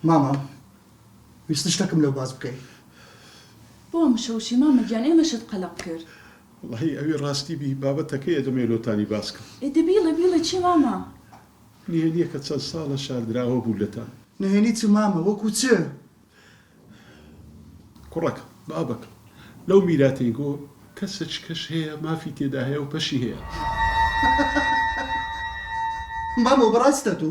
مامە ویستت شتەکم لەو باس بکەی. بۆ مشە وشەی مامە گیان ئێمەشت قەلەق کرد. وەڵاهی ئەوی ڕاستی بی بابەتەکەیە دەمەوێ لۆتانی باس کەم. ئێ دە بیڵێ بیڵێ چیە مامە. نهێنیەکە چەند ساڵە شاردراوە بوو لەتان. نهێنی چ مامە وەکو چ؟ کوڕەکەم بابەکەم لەو میراتەی گۆ کە سەچکەش هەیە مافی تێدا هەیە و پەشی هەیە. مامە وبەڕاستە تۆ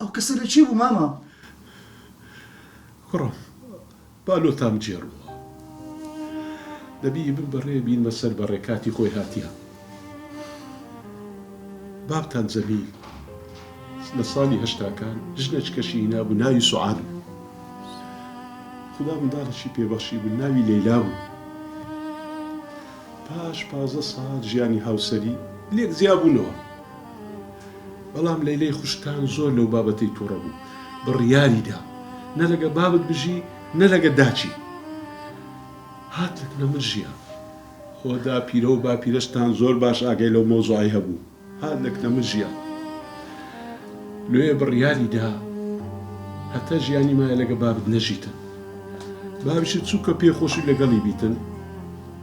ئەو کەسە لە چی بوو مامە؟ کوڕم با لۆتام جێڕووە. دەبی ئیبن بەڕێ بینمە سەر بەڕێ کاتی خۆی هاتیە. بابتان جەمیل لە ساڵی هەشتاکان ژنەچکەشی هینابوو ناوی سوعاد بوو. خودا منداڵێکی پێ بەخشیبوو ناوی لەیلا بوو. پاش پازدە ساڵ ژیانی هاوسەری لێک جیابوونەوە. بەڵام لەیلەی خوشکان زۆر لەو بابەتەی توڕە بوو، بڕیاری دا نە لەگە بابت بژی نە لەگە داچی. هات لەگەڵ من ژیا. خۆ داپیرە و باپیرەشتان زۆر باش ئاگای لەو مەوزوعەی هەبوو. هات لەگە من ژیا. لۆیە بڕیاری دا هەتا ژیانی مایە لەگە بابت نەژیتن. بابیشت چوو کە پێ خۆشی لەگەڵی بیتن.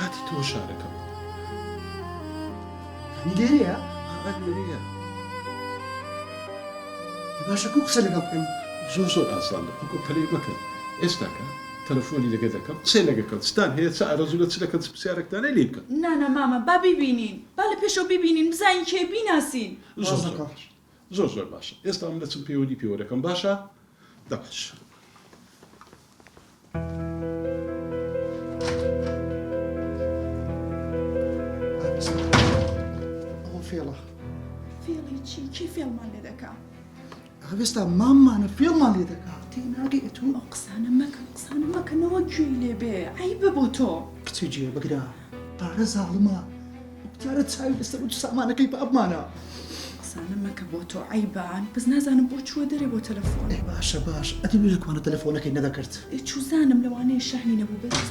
هاتیتەوە شارەکەم. یانی لێرەیە؟ ها ها لێرەیە. ئەی باشە کوو قسە لەگەڵ بکەم؟ زۆر زۆر ئاسانە ئەو کۆپەلەی مەکەن ئێستاکە تەلەفۆنی لەگە دەکەم قسەی لەگە کەن چتان هەیە چ ئارەزولە چ دەکەن چ پسیارەکتان هەیە لێی بکەن. نا نا مامە با بیبینین با لە پێشەوە بیبینین بزانین کێیە بیناسین. زۆر زۆر باش. زۆر زۆر باشە ئێستا من دەچم پەیوەندی پێوە دەکەم باشە دەبش. فێڵە فێڵی چی چی فێڵمان لێ دەکا هەوێستا ماممانە فێڵمان لێ دەکا تێناگەی ئەتون ئەو قسانە مەکە قسانە مەکەنەوە گوێی لێبێ ئەی بە بۆ تۆ کچی جێ بگرە پارە زاڵمە جارە چاوی لەسەر و سامانەکەی بابمانە قسانە مەکە بۆ تۆ عیبان بەس نازانم بۆ چووە دەرێ بۆ تەلەفۆن باشە باش ئەدی لە کوانە تەلەفۆنەکەی نەدەکرد چوزانم لەوانەیە شەحنی نەبوو بەس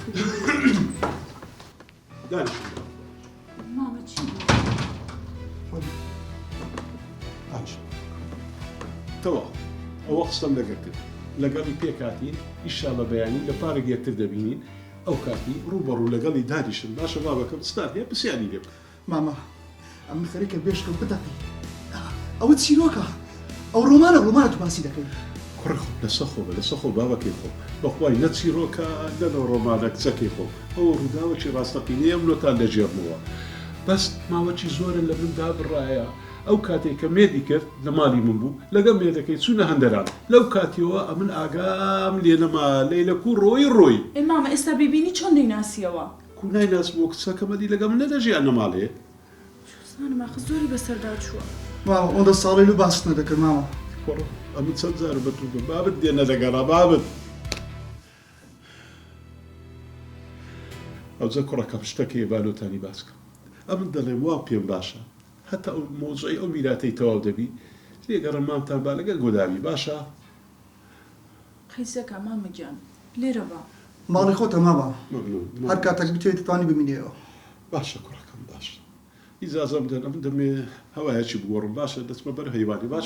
مامە چی تەوا ئەوە قسەم لەگەر کرد لەگەڵی پێکاتین ئیشاڵە بەیانی لە پارێک یەکتر دەبینین ئەو کاتی ڕووبەڕوو لەگەڵی دانیشم، باشە بابەکەم چتان هەیە پرسیاری لێ بکە. مامە ئەمن خەریکە بێشکم بتەقێ. ئەوە چیرۆکە، ئەو ڕۆمانە ڕۆمانە تو باسی دەکەی. کوڕە خۆ لەسە خۆ بە، لەسە خۆ بابەکەی خۆ بە خوای نە چیرۆکە نە نە ڕۆمانە کچەکەی خۆ ئەوە ڕووداوەکی ڕاستەقینەیە ئەمنۆتان دەگێڕمەوە بەس ماوەکی زۆرە لە من دابڕایە. ئەو کاتەی کە مێردی کرد لە ماڵی من بوو، لەگەڵ مێردەکەی چوونە هەندەران. لەو کاتیەوە ئەمن ئاگام لێ نەما لەیلە کوو ڕۆیی ڕۆیی. ئێ مامە ئێستا بیبینی چۆن دەیناسیەوە. کوو نایناسمەوە کچەکەم ئەدی لەگەڵ من نەدەژی ئەنە ماڵێ. چوزانم ئاخ زۆری بەسەردا چووە. مامە ئەوەندە ساڵەی لۆ باست نەدەکرد مامە. کوڕە ئەمن چەند جارە بە توو گۆم بابت لێ نەدەگەڕا بابت. ئەوجە کوڕەکەم شتەکەیە با لۆتانی باس کەم ئەمن دەڵێم وا پێم باشە هەتا ئەو مۆجەی ئەو میراتەی تەواو دەبی لێگەڕێ مامتان با لەگەل گۆداوی باشە. قیسەکە مامە گیان لێرە بە. ماڵی خۆتە مامە هەر کاتەک بتەوێ دەتوانی بمینێیەوە. باشە کوڕەکەم باشە ئیجازەم بدەن ئەم دەمێ هەوایەکی بگۆڕم باشە دەچمە بەر هەیوانی باش.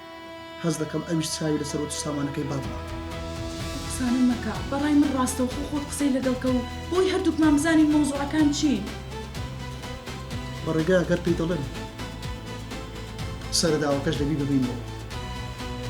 هەست دەکەم ئەویش چاوی لەسەر وت و سامانەکەی بابمە. ئەو قسانە مەکە، بەڕای من ڕاستەوخۆ خۆت قسەی لەگەڵ کە و بۆی هەردووکمان بزانین مەوزوعەکان چین. بە ڕێگا گەر پێی دەڵێم سەرەداوەکەش دەبی ببەینەوە.